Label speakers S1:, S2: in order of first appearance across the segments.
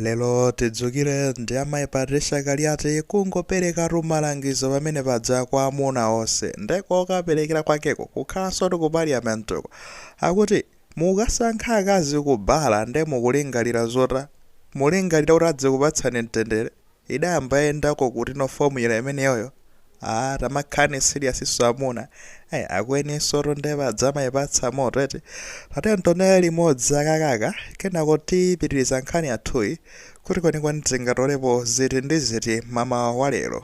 S1: Lero tidzukire ndi amayi Patricia Kaliati kungoperekatu malangizo pamene paja kwa amuna onse nde kokaperekera kwakeko kukhalanso ndi ku parliament'ko akuti mukasankha akazi kubala nde mukulingalira zota mulingalira kuti adzikupatsani mtendere? Idayamba yendako kuti no formula imeneyoyo? Aaa tamakhani serious-so amuna. Ai akweninsotu nde paja mayipatsa moto eti. Tatiyeni tionere limodzi akakaka kenako tipitiliza nkhani yathuyi kuti kwenikweni tingatolepo ziti ndi ziti mamawa wa lero.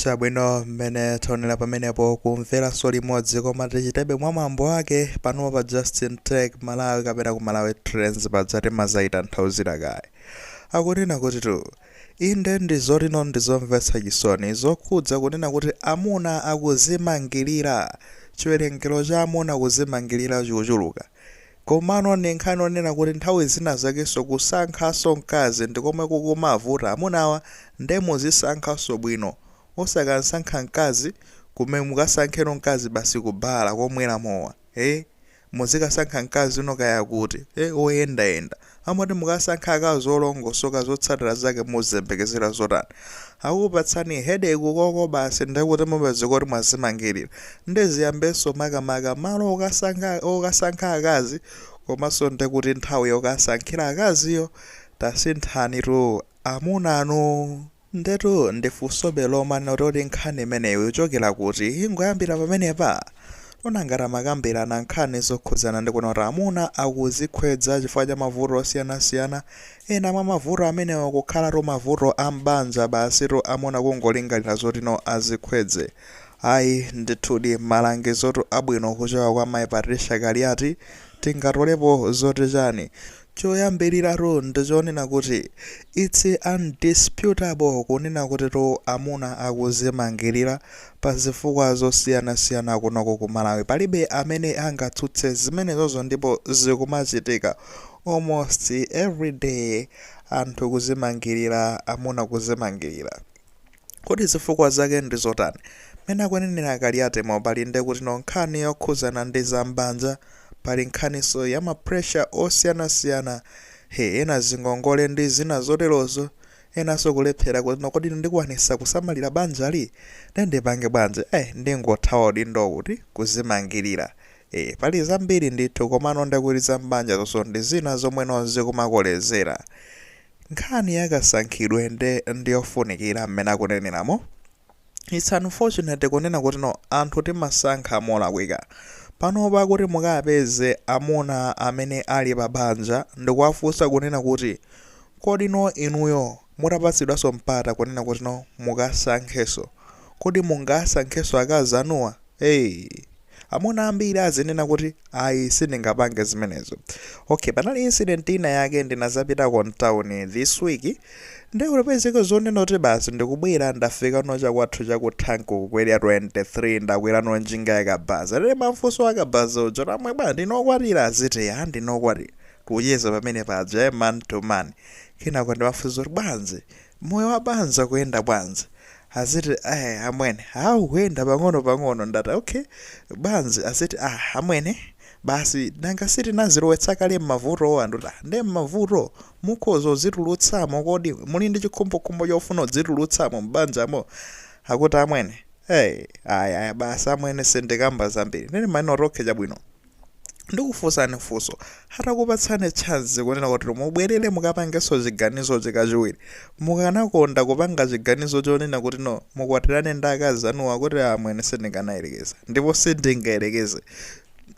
S1: Chabwino, mmene taonera pamenepo kumveranso limodzi koma tichitebe mwa mwambo wake panopa pa Justin Tech Malawi kapena ku Malawi Trends paja timadzayitanthauzira kaye. Akunena kuti tu, Inde ndi zoti no ndi zomvetsa chisoni zokhudza kunena kuti amuna akuzimangilira, chiwerengero cha amuna kuzimangilira chikuchuluka. Komano ndi nkhani yonena kuti nthawi zina zakenso kusankhanso mkazi ndi komwe kukumavuta amunawa nde muzisankhanso bwino. Osakasankha mkazi kumene mukasankheno mkazi basi ku bala komwera mowa, ee? Muzikasankha mkazi no kaya kuti, ee? Woyendayenda. Amene uti mukasankha akazi olongosoka zotsatira zake muziyembekezera zotani? Akupatsani headache ukoko basi ndiye kuti mupezeka kuti mwazimangilira. Ndiye ziyambenso makamaka malo okasankha okasankha akazi komanso ndiye kuti nthawi yokasankhira akaziyo tasinthanitu amunanu. Ndetu ndifunsobe lomwe lotuti nkhani imeneyo ikuchokera kuti ingoyambira pamenepa? Nanga tamakambirana nkhani zokhudzana ndi kunena kuti amuna akuzikhwedza chifukwa cha mavuto osiyanasiyana, ena mwa mavuto amenewo kukhalatu mavuto a m'banja basitu amuna kungolingalira zoti no azikhwedze ayi ndithudi malangizotu abwino kuchoka kwa mayi Patricia Kaliati tingatolepo zoti chani? Choyambiliratu ndi chonena kuti its undisputable kunena kutitu amuna akuzimangilira pa zifukwa zosiyanasiyana kunoko ku Malawi palibe amene angatsutse zimenezozo ndipo zikumachitika almost everyday anthu kuzimangilira amuna kuzimangilira. Kodi zifukwa zake ndi zotani? Mmene akunenera Kaliatimo pali nde kuti no nkhani yokhudzana ndi za m'banja, pali nkhaninso ya ma pressure osiyanasiyana, he ena zingongole ndi zina zoterozo, enanso kulephera kuti no kodi ndikwanisa kusamalira banjali? Nde ndipange bwanji? Eh, ndingothawa udindowu kuti kuzimangilira. Eh, pali zambiri ndithu komano nde kuti za m'banjazoso ndi zina zomwe no zikumakolezera. Nkhani ya kasankhidwe nde ndiyofunikira mmene akuneneramo, its unfortunate kunena kuti no anthu timasankha molakwika. Panopa kuti mukapeze amuna amene ali pa banja ndikuwafunsa kunena kuti kodi no inuyo mutapatsidwanso mpata kunena kuti no mukasankhenso kodi mungasankhenso akazi anuwa? Hey, amuna ambiri azinena kuti ayi sindingapange zimenezo. Okay, panali incident ina yake ndinazapitako mtauni this week nde ulipezeke zonena kuti basi ndikubwera ndafika no chakwathu chakuthanki kukwera 23 ndakwera no njinga yakabaza ndimamfunsa wakabaza uja amwene bwa ndinu okwatira aziti ya ndine okwatira kucheza pamene paja eh, man to man kenako ndimamfunsa kuti bwanji Moyo wa banja ukuyenda bwanji? Aziti eeh amwene aah ukuyenda pang'ono pang'ono ndati okay bwanji aziti aah amwene basi nanga si tinazilowetsa kale mmavutowa ndikuti aah nde mmavuto mukhoza kudzitulutsamo kodi muli ndi chikhumbokhumbo chofuna kudzitulutsamo mbanjamo akuti amwene eeh ayi ayi basi amwene sindikamba zambiri ndati mmene okay chabwino. Ndikufunsani funso, atakupatsani chance kunena kuti mubwerere mukapangenso chiganizochi kachiwiri, mukanakonda kupanga chiganizo chonena kuti no mukwatirane ndi akazi anuwa akuti ah amwene sindikanayerekeza ndipo sindingayerekeze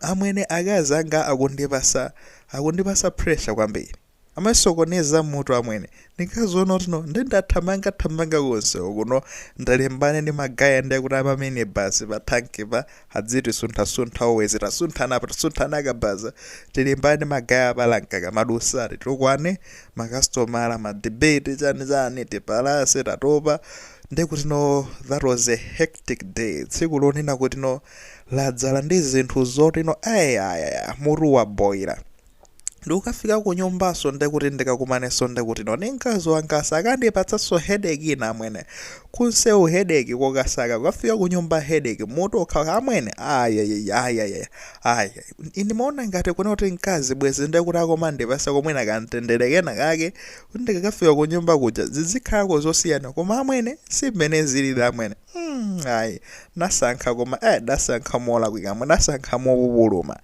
S1: amwene akazi anga akundipatsa akundipatsa pressure kwambiri. Amasokoneza mutu amwene. Ndinkaziona kuti no nde ndathamanga thamanga konsewo kuno ndalimbana ndi magaya nde kuti ama minibus pa tank pa adziti suntha suntha always tasunthana apa tasunthana akabaza tilimbane ndi magaya apa lane kaka madusa titukwana makasitomala ma debate chani chani tipalase tatopa nde kuti no that was a hectic day tsiku lonena kuti no ladzala ndi zinthu zoti no ayayaya mutu waboila Ndikukafika kunyumbaso ndekuti ndikakumaneso ndekutino ndi mkazi wangaso akandipatsaso headache ina amwene. Kunsewu headache kokasaka kukafika kunyumba headache mutu okhaokha amwene ayayayayaya ayi ndimaona ngati kunena kuti mkazi bwezi ndekuti akumandipasako mwina kamtendere kena kake kuti ndikakafika kunyumba kuja zizikhalako zosiyana koma amwene simene zilili amwene mm, ayi nasankha koma eh, dasankha molakwika amwe dasankha mopupuluma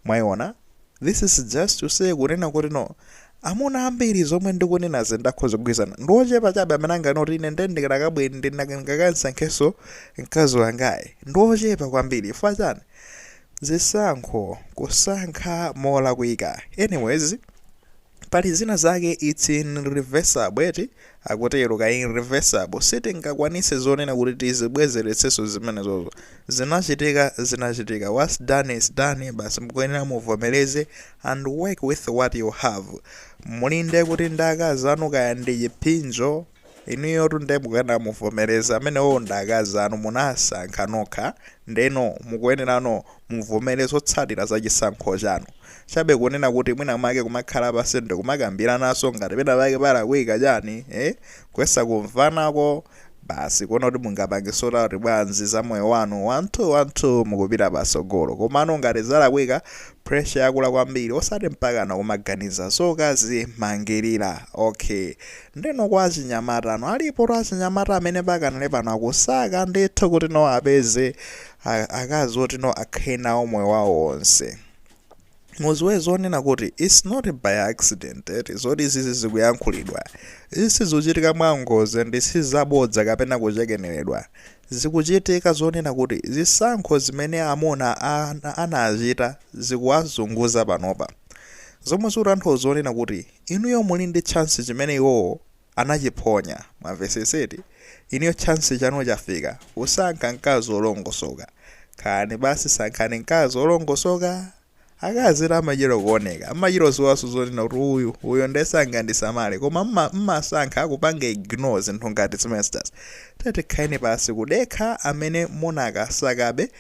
S1: mwaiona This is just to say kunena kuti no amuna ambiri zomwe ndikunenazi nde akhoza kugwirizana ndi ochepa chabe amene anganene kuti ine nde ndikadakabwera ndingakamsankhenso mkazi wangayu ndi ochepa kwambiri chifukwa chani zisankho kusankha molakwika anyways Pali zina zake its irreversible eti akutero ka irreversible sitingakwanise zonena kuti tizibwezeretseso zimenezozo zinachitika zinachitika whats done is done basi mkuyenera muvomereze and work with what you have muli nde kuti ndi akazi anu kaya ndi chiphinjo Inuyotu nde mukuyenera muvomereze amenewowo ndi akazi anu munasankha nokha ndeno mukuyenerano muvomere zotsatira za chisankho chanu. Chabe kunena kuti mwina mwake kumakhala pansi ndikumakambiranaso ngati pena pake palakwika chani ee kuyesa kumvanako basi kuona kuti mungapange sort out bwanzi za moyo wanu one two one two mukupita pasogolo komano ngati zalakwika pressure yakula kwambiri osati mpakana kumaganiza zokazimangilira ok Ndeno kwa achinyamata ano alipotu achinyamata amene pakanali pano akusaka ndithu kuti no apeze a- akazi oti no akhale nawo moyo wawo wonse muziwe zonena kuti its not by accident eti zoti izi zikuyankhulidwa izi sizikuchitika mwa ngozi ndi sizabodza kapena kuchekeneredwa zikuchitika zonena kuti zisankho zimene amuna ana- anachita zikuwazunguza panopa zomwe zikutanthauza zonena kuti Inuyo muli ndi chance chimene iwowo anachiphonya mwamvesesa eti? Inuyo chance chanu chafika kusankha mkazi olongosoka. Khalani pansi sankhani mkazi olongosoka. Akazitu amachita kuoneka, mmachita ziwaso zonena kuti uyu, uyo nde sangandisamale koma mmasankha kupanga ignore zinthu ngati zimenezijazi. Tatiyeni khalani pansi kudekha amene munakasakabe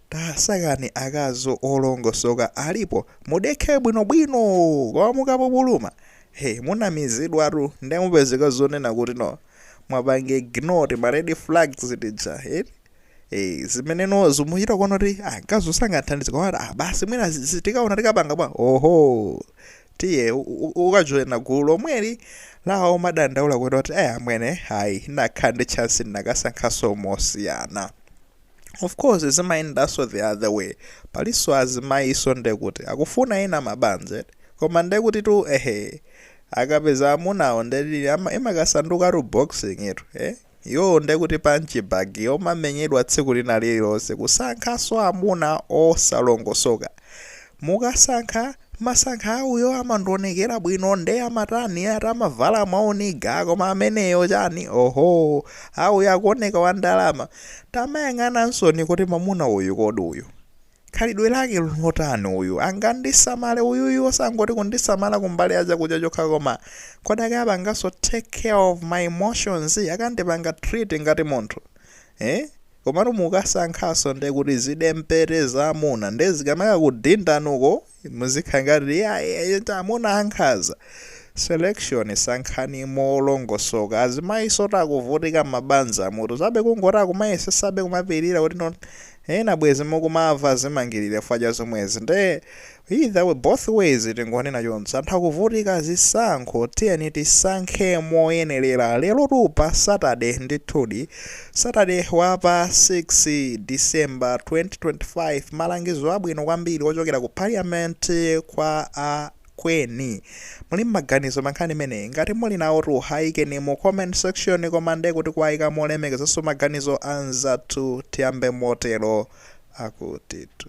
S1: Tasakani akazi olongosoka alipo mudekhe bwino bwino koma mukapupuluma he munamizidwatu nde mupezeka zonena kuti no mwapanga ignore tima red flags tija eti ee zimene no mukuchita kuona kuti ah mkaziyu sangandithandize koma ah basi mwina zi- zi- tikaona tikapanga bwa oho tiye u- u- ukajoyina gulu lomweli la omadandaula kunena kuti eh amwene ayi nditakhala ndi chance ndinakasankhanso mosiyana Of course zimayendaso the other way paliso azimayiso ndekuti akufuna ena mabanja eti koma ndekutitu ehe akapeza amunawo nde imakasandukatu boxing itu eh iwowo ndekuti punch bag yomamenyedwa tsiku lina lililonse kusankhaso amuna osalongosoka mukasankha Mmasankha a uyo amandionekera bwino nde amatani ati amavala mwa u nigga koma ameneyo chani ohoo haa uyu akuoneka wa ndalama tamayang'anansoni kuti mamuna uyu kodi uyu khalidwe lake nlotani uyu angandisamale uyuyu osangoti kundisamala kumbali ya chakudya chokha koma kodi akapanganso take care of my emotions akandipanga treat ngati munthu ee Komano mukasankhanso nde kuti zidempete za amuna nde zikamakakudindani uko muzikhala ngati eti amuna ankhaza. Selection sankhani molongosoka. Azimayisotu akuvutika mmabanjamutu. Chabe kungoti akumayesesabe kumapilira kuti no ena bwezi mukumava zimangilire chifukwa cha zomwezi. Nde Either way, both ways tingonena chonse anthu akuvutika zisankho tiyeni tisankhe moyenelera lerotu pa Saturday ndithudi Saturday wapa 6 December 2025 malangizo abwino kwambiri ochokera ku parliament kwa a kweni muli maganizo pa nkhani imeneyi? Ngati muli nawotu ayikeni mu comment section koma nde kuti kuwayika molemekezanso maganizo anzathu tiyambe motero akutitu.